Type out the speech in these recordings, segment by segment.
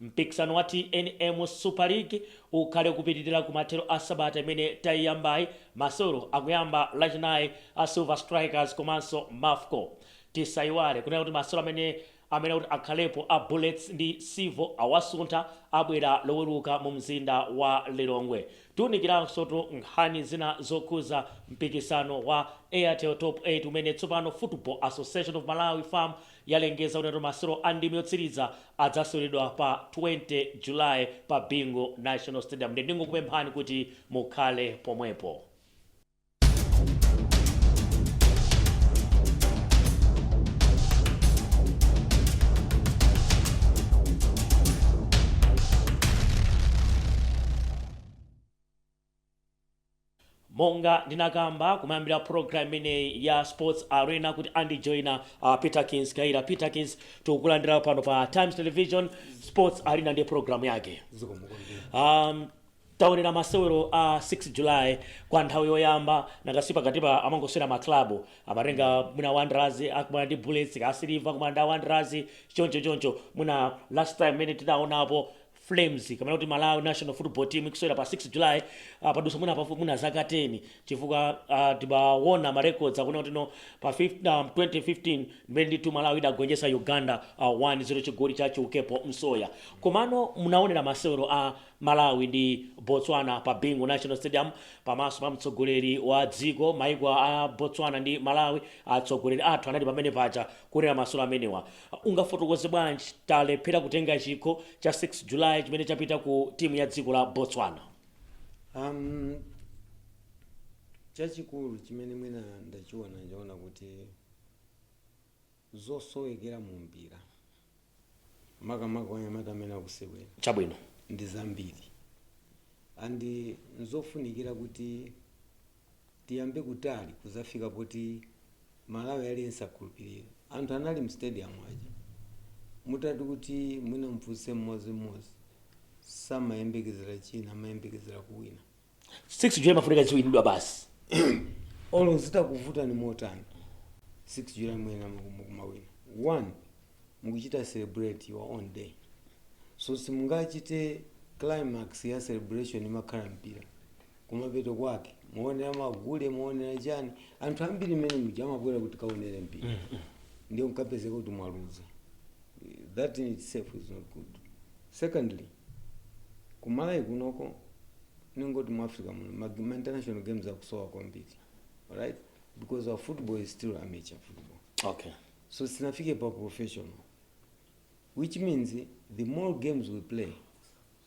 Mpikisano wa tnm Super League ukhala ukupitilira kumathero kwa sabata imene taiyambayi. Masewero akuyamba lachinayi a Silver Strikers komanso Mafco. Tisaiwale kunena kuti masewero amene amene kuti akhalepo a Bullets ndi Civo awasuntha abwera loweruka mu mzinda wa Lilongwe. Tiunikiranso tu nkhani zina zokhuza mpikisano wa Airtel Top 8 umene tsopano Football Association of Malawi, fam, yalengeza kuti masewero a ndime yotsiriza adzaseweredwa pa 20 July pa Bingu National Stadium nde ndingokupemphani kuti mukhale pomwepo. Monga ndinakamba kumayambiliro a program imeneyi ya sports arena kuti andijoina a Peterkins Kayira Peterkins tikukulandila pano pa Times Television sports arena ndi program yake zikomo kwambiri um, taonera masewero a 6 july kwa nthawi yoyamba nanga si pakatipa amangosewera maklabu amatenga mwina wanderers akumana ndi bullets kaya Silver akumana ndi wanderers choncho choncho mwina last time imene tidaonapo Flames kapena kuti Malawi National Football Team ikusewera pa 6 July uh, padutsa mwina pafupi mwina zaka 10 chifukwa uh, tikaona ma records akunena kuti no pa 5, um, 2015 mmene ndithu Malawi idagonjetsa Uganda uh, 1-0 chigoli cha Chiukepo Msoya komano munaonera masewero a Malawi ndi Botswana pa Bingu National Stadium pamaso pa mtsogoleri wa dziko maiko a Botswana ndi Malawi atsogoleri athu anali pamene paja kuonera masewero amenewa Ungafotokoze bwanji talephera kutenga chikho cha 6 July chimene chapita ku timu ya dziko la Botswana? Um, chachikulu chimene mwina ndachiona ndaona kuti zosowekera mu mpira makamaka kwa anyamata amene akusewera Chabwino. ndi zambiri and nzofunikira kuti tiyambe kutali kuzafika poti Mmalawi aliyense akhulupilira. Anthu anali mu stadium aja mutati kuti mwina mufunse mmozi mmozi samayembekezera china amayembekezera kuwina. 6 july imafunika iziwinidwa basi. Olo zitakuvutani motani 6 july muyenera kumawina. One mukuchita celebrate your own day so simungachite climax ya celebration imakhala mpira. kumapeto kwake muonera magule muonera chani anthu ambiri mmene muja amabwera kuti kaonere mpira ndio nkupezeka kuti mwaluza that in itself is not good secondly ku Malawi kunoko ningoti mu africa muno ma, ma international games akusowa kwambiri right because our football is still amateur football okay so sinafike pa professional which means the more games we play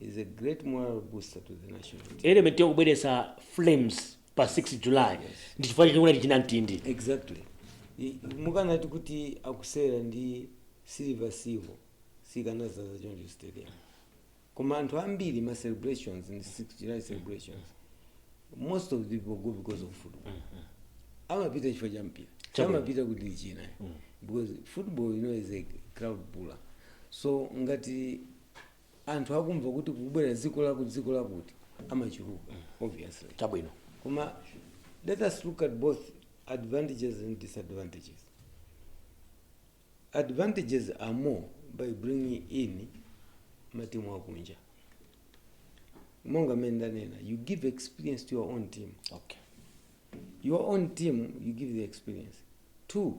is a great moral booster to the national team. element yokubweretsa flames pa 6 july ndi chifukwa chake kunali chinam tindi exactly I- mukanati kuti akusewera ndi Silver Silver sikanazaza choncho stadium koma anthu ambiri ma celebrations in 6 july celebrations most of the people go because of football amapita chifukwa cha mpira Chabwino. amapita kuti china because football you know is a crowd puller so ngati anthu akumva kuti kukubwera dziko lakuti dziko lakuti amachuluka obviously chabwino koma let us look at both advantages and disadvantages advantages are more by bringing in matimu akunja monga mmene ndanena you give experience to your own team okay your own team you give the experience two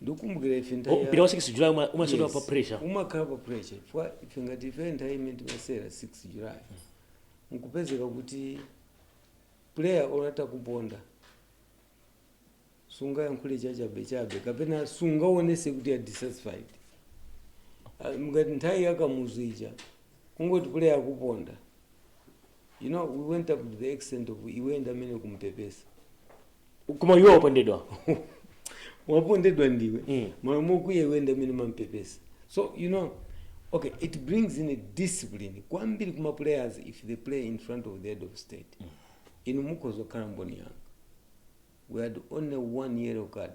ndikumbukira ife nthawi ya- mpira wa 6 july uma- umasewera Yes. pa pressure umakhala pa pressure chifukwa ife ngati ife nthawi imene timasewera 6 july nkupezeka kuti player wolata kuponda sungayankhule chachabechabe kapena sungaonese kuti you're dissatisfied Ah, ngati nthawi ya Kamuzu ija kungati player akuponda You know, we went up to the extent of iwe ndi amene ukumupepesa. koma iwe wapondedwa Wapondedwa ndiwe. Mm. Malo mokwiya iwe ndi amene umamupepesa. So, you know, okay, it brings in a discipline. Kwambiri kuma players if they play in front of the head of state. Inu mukhoza kukhala mboni yanga. We had only one yellow card.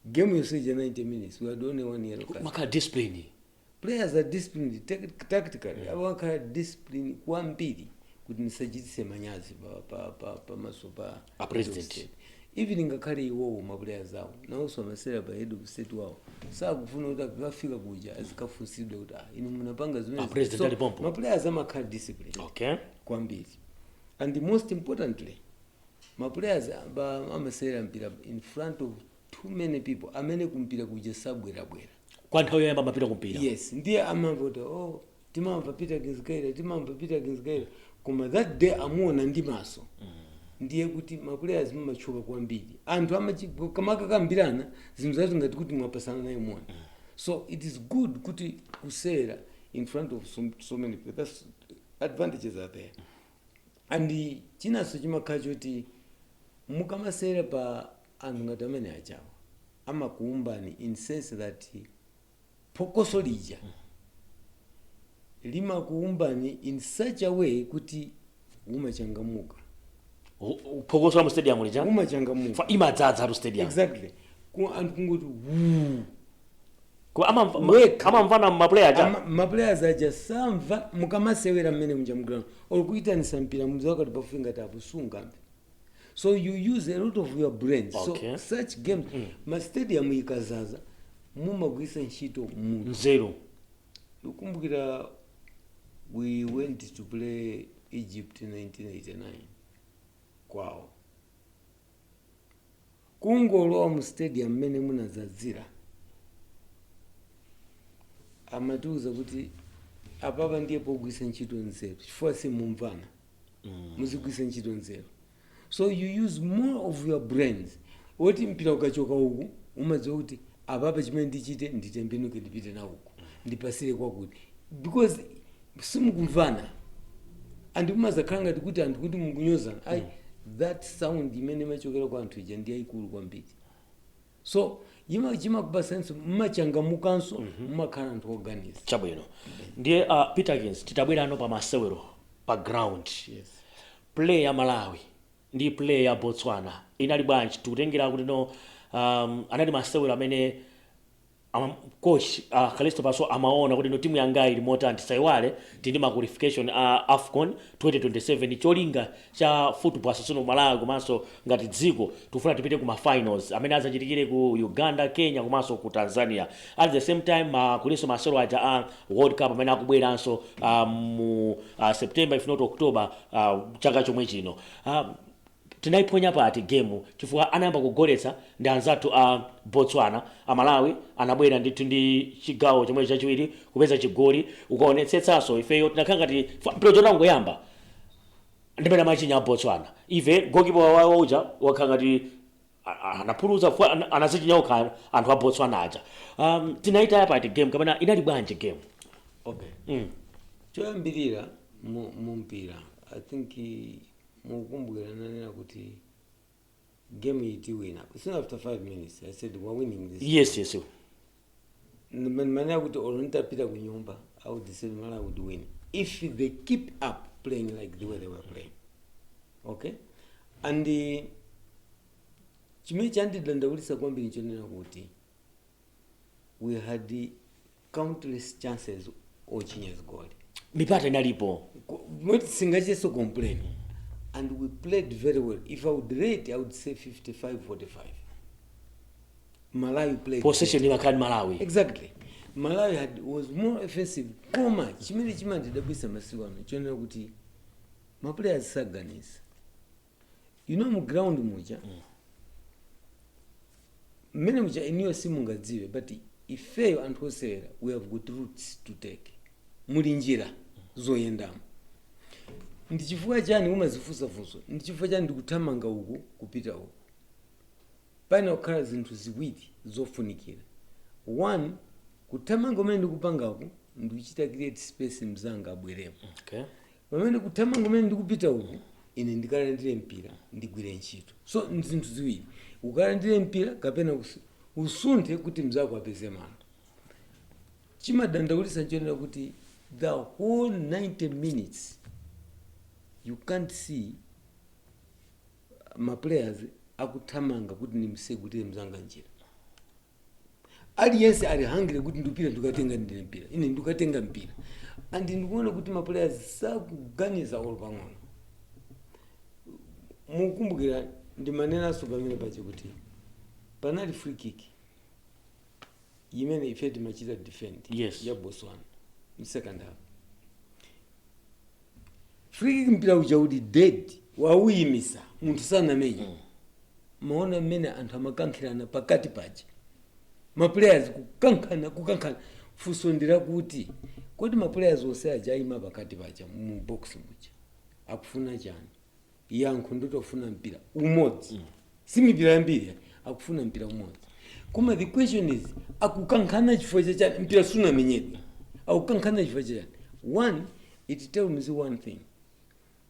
game yonse ija 90 minutes we had only one yellow card amakhala disciplined players are disciplined tec- tactically amakhala disciplined kwambiri kuti ndisachitise manyazi pa- pa- pa- pamaso pa A president. head of state. even ngakhale iwowo maplayers awo nawonso amasewera pa head of state wawo sakufuna kuti akafika kuja azikafunsidwe kuti ah, inu munapanga zimene A president ali pompo. maplayers amakhala disciplined okay kwambiri and most importantly ma players aba amasewera mpira in front of too many people amene kumpira kuja sabwerabwera kwa nthawi yoyamba amapita kumpira yes ndiye amamva kuti oh timamva peter kinzgaira timamva peter kinzgaira koma that day amuona ndi maso ndiye kuti maplayers amatchuka kwambiri anthu amachi- akamakakambirana zimakhala ngati kuti mwapasana naye moni so it is good kuti kusewera in front of so, so many people that's advantages are there and chinanso chimakhala choti mukamasewera pa anthu ngati amene ajawa amakuumbani in sense that phokoso lija limakuumbani in such a way kuti umachangamuka phokoso la mu stadium lija umachangamuka Fa- imadzadza mu stadium exactly Ku- anthu kungoti wuu Koma amamva ma- Wekha. amamvana ma player aja. Ama- ma players aja samva mukamasewera mmene muja mu ground or kuitanisa mpira muzakati pafupi ngati apa simungamve so you use a lot of your brains Okay. so such games ma stadium ikazaza mumagwisa ntchito mutu Nzeru. Ndikukumbukira we went to play Egypt in 1989 kwawo kungolowa mu stadium mmene munadzadzira amatiuza kuti apapa ndiye pogwisa ntchito nzeru chifukwa simumvana muzigwisa ntchito nzeru so you use more of your brains woti mpira ukachoka uku umadziwa kuti apapa chimene ndichite nditembenuke ndipite nawo uku ndipasire kwakuti because simukumvana and umazakhala ngati kuti anthu kuti mukunyozana ayi that sound imene imachokera kwa anthu ija ndi yayikulu kwambiri so yima chimakupasanso mmachangamukanso mumakhala anthu oganiza chabwino ndiye uh, peter kins titabwerano pa masewero pa ground yes play ya malawi ndi play ya Botswana inali bwanji tikutengera kuti no um, anali masewero amene um, coach uh, Kalisto Pasuwa amaona kuti no timu yanga ili motani tisaiwale tindi ma qualification a uh, AFCON 2027 cholinga cha football association of Malawi komanso ngati dziko tikufuna tipite ku ma finals amene azachitikire ku Uganda Kenya komanso ku Tanzania at the same time ma uh, kulinso masewero aja a uh, World Cup amene akubweranso uh, mu uh, September if not October uh, chaka chomwe chino uh, tinayiphonya pati gemu chifukwa anayamba kugoletsa ndi anzathu a uh, Botswana amalawi anabwera ndithu ndi chigawo chomwe chachiwiri kupeza chigoli ukaonetsetsanso ifeyo tinakhala ngati mpira utangoyamba ndi mmene amachinya a Botswana ife gokipa wawo uja wakhala ngati A- a- anaphuluza fwa an- anazichinya okha anthu a botswana aja um, tinayitaya pati game kapena inali bwanji game okay mm. choyambirira mu- mumpira i think i- mukumbukira n'nanena kuti game iyi tiwina soon after five minutes i said we're winning this yes yes ndimanena kuti olo nitapita ku nyumba i would say malawi would win if they keep up playing like the way they were playing okay and uh, chimene chandidandaulisa kwambiri nchonena kuti we had uh, countless chances ochinya zigoli mipata inalipo not singachitenso complain and we played very well if i would rate i would say 55 45 Malawi played possession better. imakhala ndi malawi Exactly. Malawi had, was more offensive. Koma chimene chimandidabwisa masiku ano nchonena kuti ma players saganiza. You know mu ground muja mmene muja inuyo simungadziwe but ifeyo anthu osewera we have got routes to take. Muli njira zoyendamo. Ndi chifukwa chani umazifunsa funso? Ndi chifukwa chani ndikuthamanga uku kupita uku? Payenera kukhala zinthu ziwiri zofunikira, 1 kuthamanga kumene ndikupangaku ndikuchita create space mzanga abweremo, kapena kuthamanga kumene ndikupita uku ine ndikalandire mpira ndigwire ntchito. So nzinthu ziwiri, ukalandire mpira kapena usunthe kuti mzako apeze malo. Chimadandaulitsa nchonena kuti the whole 90 minutes you can't see. ma players akuthamanga kuti ndimsegutire mzanga njira aliyense ali hungry kuti ndipite ndikalandire mpira ine ndikatenge mpira and ndikuona kuti ma players sakuganiza olo pang'ono mukumbukira ndimanenanso pamene paja kuti panali free kick imene ife timachita defend Yes. ya Botswana mu second half free kick mpira uja uli dead wawuyimisa munthu sanamenye mwaona mmene anthu amakankhirana pakati paja maplayers kukankhana kukankhana funso ndi lakuti kodi maplayers onse aja ayima pakati paja mu box muja akufuna chani yankho ndoti akufuna mpira umodzi si mipira yambiri akufuna mpira umodzi koma the question is akukankhana chifukwa chachani mpira sunamenyedwe akukankhana chifukwa chachani one it tells me one thing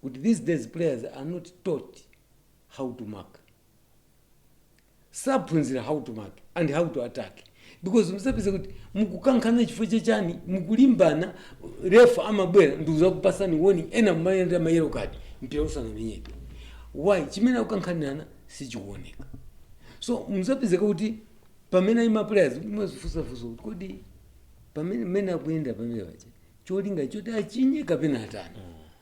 kuti these days players are not taught how to mark saphunzira how to mark and how to attack because umzapeza kuti mukukankhana chifukwa chani mukulimbana refa amabwera ndikuzakupasani warning ena mumayendera ma yellow card mpira usanamenyedwe why chimene akukankhanirana sichikuoneka so umzapeza kuti pamene maplayers mwazifunsa kuti kodi pamene amene akuyenda pamene paja cholinga choti achinye kapena atani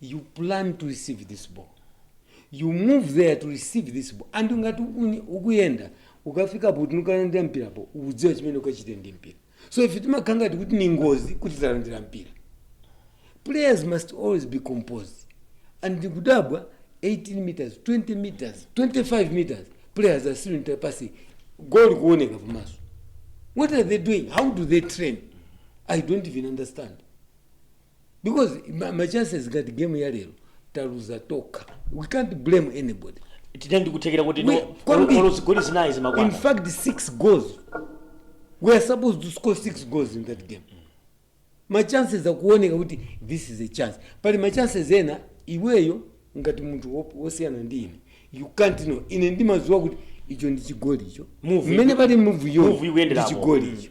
you plan to receive this ball you move there to receive this ball and ngati uni- ukuyenda ukafikapo kuti nikalandira mpirapo udziwa chimene ukachite ndi mpira so ife timakhala ngati kuti ni ngozi kuti talandira mpira players must always be composed and ndikudabwa 18 meters 20 meters 25 meters players are still interpassing goal ikuoneka pamaso what are they doing how do they train i don't even understand because ma, ma chances ngati game ya lero taluza tokha we can't blame anybody tinali ndi kuthekera kuti We- no kwambiri. olo zigoli zinayi zimakwana in fact six goals we are supposed to score six goals in that game ma chances akuoneka kuti this is a chance pali ma chances ena iweyo ngati munthu wop- wosiyana ndi ine you can't know ine ndimadziwa kuti icho ndi chigoli icho mmene pali move yo ndi ikuyenderapo. chigoli icho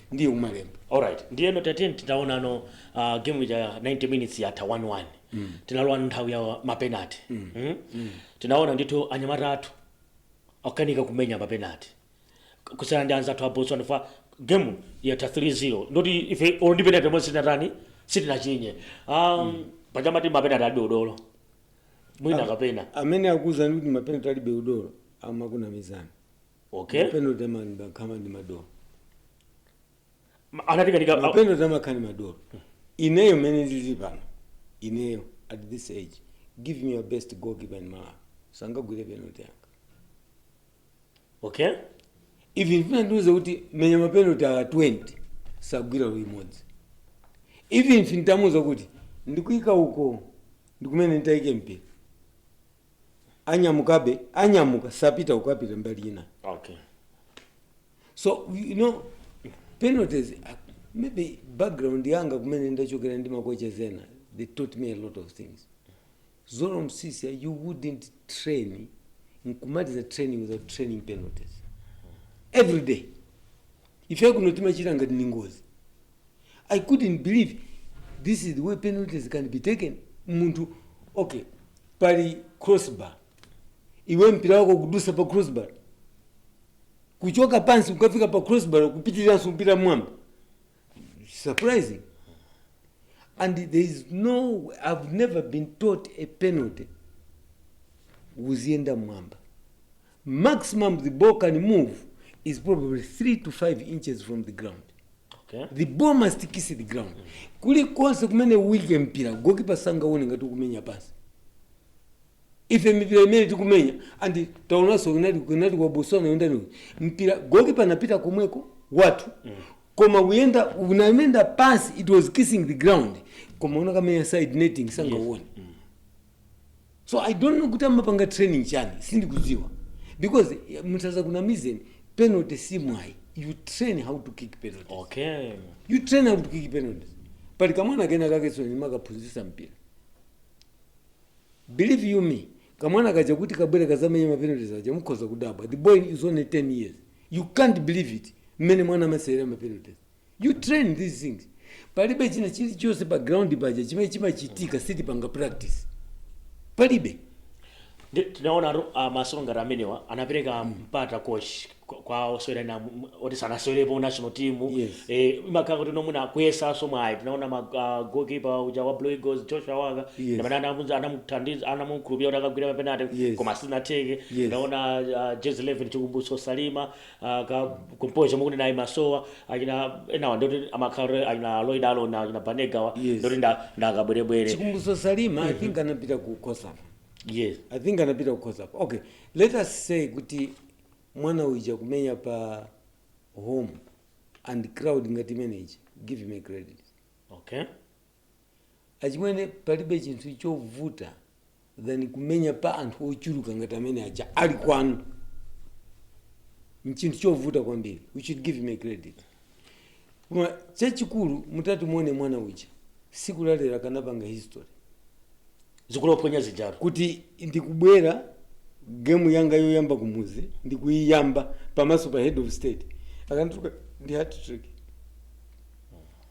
ndiye umalemba alright ndiyeno tatiyeni titaonano uh, game ija 90 minutes yatha 1-1 mm. tinalowa nthawi ya mapenati mm. mm? mm. tinaona ndithu anyamata athu akukanika kumenya mapenati kusiyana ndi anzathu a botswana for game yatha 3-0 kuti ife olo ndi penati yomwe sitinatani sitinachinye um, mm. paja amati mapenati alibe udolo mwina kapena amene akuwuzani kuti mapenati alibe udolo amakunamizani okay mapenalty amakhala ndi madolo Ma- anatinamiza a- mapenalty amakhala ndi madolo ineyo mmene ndili pano ineyo at this age give me your best goalkeeper in malawi sangagwire penalty yanga okay even mutandiuza kuti menya mapenalty a 20 sagwira olo imodzi even if nditamuuza kuti ndikuika uko ndikumene nditaike mpira anyamukabe anyamuka sapita uko apita mbali ina okay so you know penalties uh, maybe background yanga kumene ndachokera ndi makocha ena they taught me a lot of things zoro msiska you wouldn't train nkumaliza training without training penalties every day ife kuno timachita ngati ni ngozi i couldn't believe this is the way penalties can be taken munthu okay pali crossbar iwe mpira wako kudusa pa crossbar kuchoka pansi kukafika pa crossbar kupitiriranso kupita m'mwamba surprising and there is no i've never been taught a penalty iziyenda m'mwamba maximum the ball can move is probably 3 to 5 inches from the ground Okay. the ball must kiss the ground kulikonse kumene uike mpira goalkeeper sangauone ngati ukumenya pansi ife mipira imene tikumenya andi taonanso kunali kunali kwa botswana yondani mpira goalkeeper anapita komwekotu koma uyenda unayenda pansi it was kissing the ground koma unakamenya side netting sangauone So I don't know kuti amapanga training chani sindikudziwa because munthu azakunamizeni penalty si mwayi you train how to kick penalties okay you train how to kick penalties pali kamwana kena kakenso ndimakaphunzitsa mpira believe you me kamwana kaja kuti kabwere kazamenye mapenalties aja mukhoza kudabwa the boy is only 10 years you can't believe it mmene mwana amasewera mapenalties You train these things. Palibe china chilichonse pa ground paja chimene chimachitika sitipanga practice. Palibe. Ndi tinaona atu ah, masewero ngati amenewa anapereka mpata coach kwa- kwa osewera ena m- oti sanasewerepo national team Yes. eh imakhala kuti ndi mwina kuyesanso mwayi tinaona ma ah, goalkeeper uja wa Blue Eagles Joshua Waka Yes. ndamene anamuza anamuthandiza anamukhulupira kuti akagwira mapenalty Yes. koma sinatheke Yes. tinaona ah, jersey 11 Chikumbutso Salima aka composure mukuti naye yasowa achina enawa ndoti amakhala kuti achina Lloyd Aaron achina Banega awa Yes. ndoti nda ndakabwerebwere Chikumbutso Salima i think anapita ku COSAFA yes i think anapita ku COSAFA okay let us say kuti mwana uja kumenya pa home and crowd ngati imeneji give him a credit okay Achimwene palibe chinthu chovuta than kumenya pa anthu ochuluka ngati amene aja ali kwanu. Nchinthu chovuta kwambiri. We should give him a credit. Koma chachikulu mutati muone mwana uja tsiku la lero akanapanga history zigoli wophonya zijatu kuti ndikubwera gemu yanga yoyamba kumuzi ndikuiyamba pamaso pa head of state akanatuluka ndi hat trick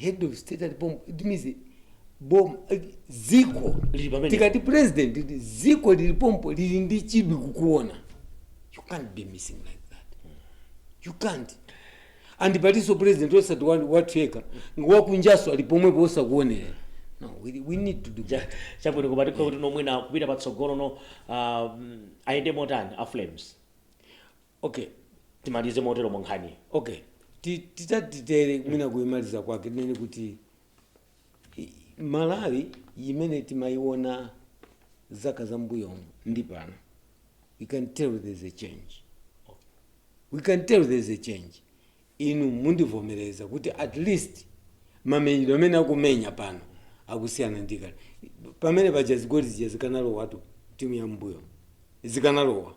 head of state ali pompo it means bom eh, dziko Lili pamene. tikati president ndi dziko lili pompo lili ndi chidwi kukuona you can't be missing like that you can't and palinso president osati wa- wathu yekha ndi wakunjanso ali pomwepo oti akuonerera no we, we need to do Ja- that chabwino koma tikhoza kuti no mwina kupita patsogolo no um, ayende motani a Flames Ok, timalize moteromo nkhaniyi. Ok, ti- titati titere mwina kuimaliza kwake tinene kuti i- Malawi imene timaiona zaka za mbuyomu ndi pano we can tell there is a change we can tell there is a change inu mundivomereza kuti at least mamenyedwe amene akumenya pano akusiyana ndi kale pamene paja zigoli zija zikanalowatu timu ya mbuyomu zikanalowa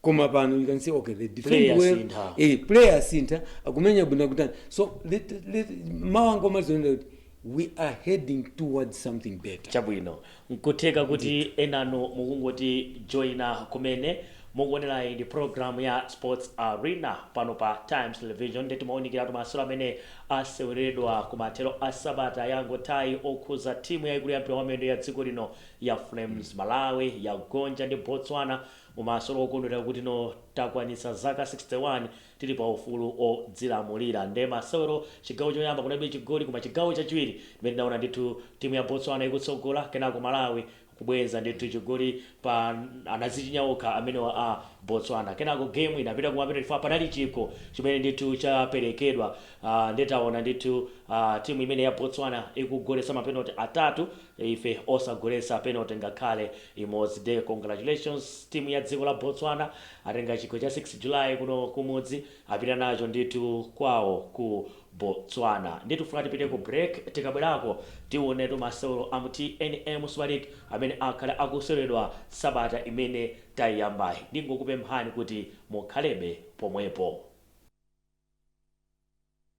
koma pano you can say okay they defend well, ma player asintha. eh player asintha akumenya bwino kutani so let, let, mwa anga umazionera kuti we are heading towards something better chabwino nkutheka kuti enanu mukungoti joina kumene mukuonera ndi program ya sports arena pano pa times television nde timaunikiratu masewero amene aseweredwa kumathero a sabata yangothayi okhuza timu yaikulu ya mpira wamiyendo ya dziko lino ya flames malawi yagonja ndi botswana mumasewero okondwera kuti tsono takwanitsa zaka 61 tili pa ufulu odzilamulira nde masewero chigawo choyamba kunalibe chigoli koma chigawo chachiwiri ndimene tinaona ndithu timu ya botswana ikutsogola kenako malawi kubweza ndithu chigoli pa anazichinya okha amenewa a botswana kenako game inapita kumapenoti chifukwa panali chikho chimene ndithu chaperekedwa ah, nde taona ndithu ah, timu imene ya botswana ikugolesa mapenoti atatu Ife osagolesa penalty ngakhale imodzi nde congratulations team ya dziko la Botswana atenga chikho cha 6 July kuno kumudzi apita nacho ndithu kwawo ku Botswana ndiye tikufuna tipite ku break tikabwerako tiwonetu masewero a mu tnm super league amene akhale akuseweredwa sabata imene tayiyambayi ndingokupemphani kuti mukhalebe pomwepo.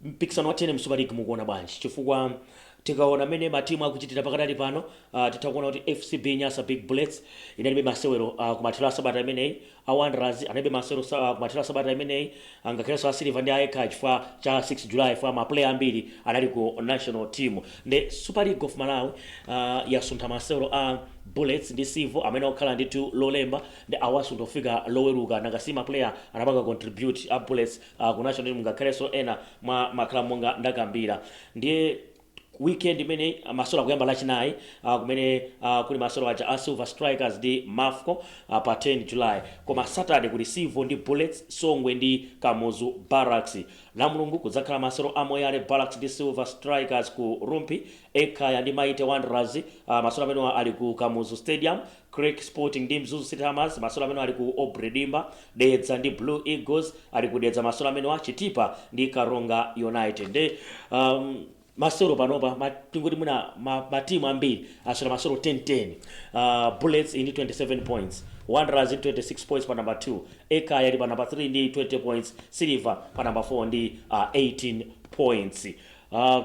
Mpikisano wa tnm Super League mukuona bwanji? Chifukwa tikaona mmene ma team akuchitira pakadali pano titha kuona kuti FCB Nyasa Big Bullets inalibe masewero kumathero a sabata imeneyi, a Wanderers analibe masewero kumathero a sabata imeneyi ngakhalenso a Silver ndi a Ekhaya chifukwa cha 6 July chifukwa ma player ambiri anali ku National Team. Nde Super League of Malawi yasuntha masewero a Bullets ndi Civil amayenera kukhala ndithu Lolemba nde awasuntha kufika Loweruka nanga si ma player anapanga contribute a Bullets a ku national team ngakhalenso ena mwa ma club monga ndakambira ndiye weekend imeneyi ah, masewero akuyamba lachinayi ah, kumene ah, kuli masewero aja a silver strikers ndi mafco ah, pa 10 july koma saturday kuli civo ndi bullets songwe ndi kamuzu barracks lamulungu kudzakhala masewero a moyale barracks ndi silver strikers ku rumphi ekhaya ndi mighty wanderers ah, masewero amenewa ali ku kamuzu stadium Creck Sporting ndi Mzuzu City Hammers masewero amenewa ali ku Aubrey Dimba, Dedza ndi Blue Eagles ali ku Dedza masewero amenewa, Chitipa ndi Karonga United. Nde um, masewero panopa ma- tingoti mwina ma- matimu ambiri asewera masewero 10-10 uh, bullets ili ndi 27 points wanderers ili ndi 26 points pa number 2 ekhaya ili pa number 3 ndi 20 points silver pa number 4 ndi uh, 18 points uh,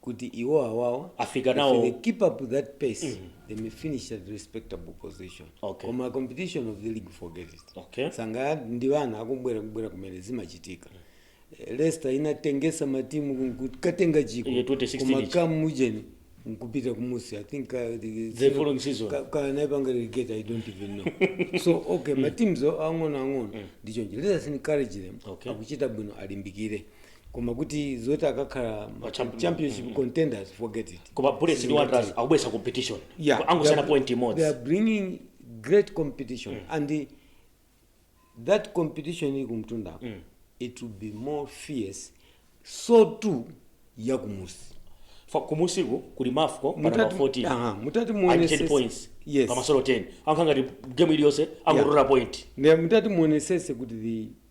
kuti iwo awawa Afika nawo. if they keep up that pace they may finish at respectable position Okay. koma competition of the league forget it Okay. changa ndi wana akubwera kubwera kumene zimachitika Eh, leicester inatengesa matimu nkukatenga chikho Iye 2016 koma ichi. kamujeni nkupita kumusi i think uh, the, The following season. ka- ka- naipanga relegate i don't even know so okay mateams ang'ono ang'ono ndi choncho let us encourage them Okay. akuchita bwino alimbikire koma kuti zoti akakhala ma- champion- championship contenders forget it koma bullets ndi wanderers akubweretsa competition yeah, angosiyana they are- point imodzi they are bringing great competition and the, that competition ili kumtunda it will be more fierce so too yakumusi Fa- kumusiku kuli mafco pa number 14 aha, mutati muonesese 10 points yes pamasolo 10 akhala ngati game iliyonse angodrawa point Ne- mutati muonesese kuti the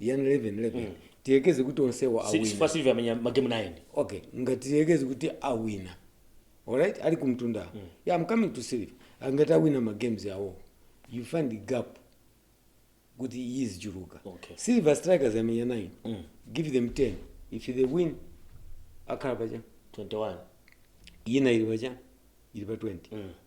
yan 11 11 tiyekeze kuti onsewa Si- awina Silver amenya magemu 9 okay ngati tiyekeze kuti awina alright ali kumtunda yeah, i'm coming to silver angati awina ma games awo you find the gap kuti izichuluka Okay. silver strikers amenya 9 Mm. give them 10 if they win akhala paja 21 ina ili paja ili pa 20 Mm.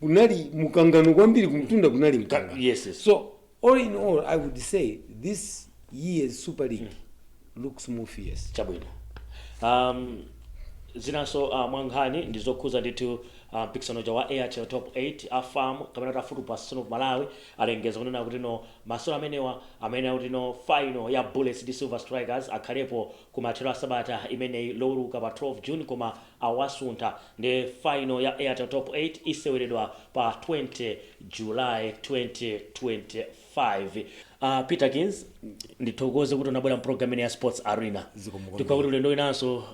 kunali mukangano kwambiri kumtunda kunali mkangano Yes, yes. so all in all i would say this year's super league looks more fierce chabwino um, zinanso uh, mwankhani ndi zokhuza ndithu uh, mpikisano uja wa airtel top 8 afam kapena kuti Football Association of Malawi alengeza kunena kuti masewero amenewa amene akuti ndi final ya bullets ndi silver strikers akhalepo kumathero a sabata imeneyi loweruka pa 12 June koma awasuntha nde final ya Airtel Top 8 iseweredwa pa 20 July 2025. Peterkins ndithokoze kuti unabwera mu program imeneyi ya Sports Arena. Zikomo kwambiri. Tiyembekeza kuti ulendo winanso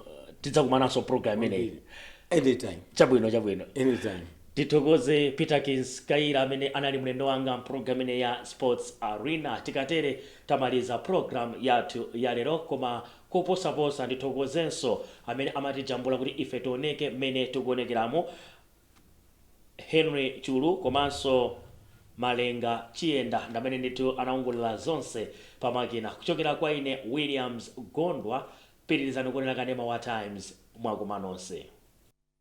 tidzakumananso mu program imeneyi. Kwambiri. Anytime. Chabwino chabwino. Anytime. Ndithokoze Peterkins Kayira amene anali mlendo wanga mpulogalamu imeneyi ya Sports Arena. Tikatere tamaliza pulogalamu yathu yalero koma koposaposa ndithokozenso amene amatijambula kuti ife tioneke mmene tikuonekeramo, Henry Chulu komanso Malenga Chiyenda ndi amene ndithu anaongolera zonse pamakina. Kuchokera kwa ine Williams Gondwa, pitirizani kuonera kanema wa Times. Mwakoma nonse.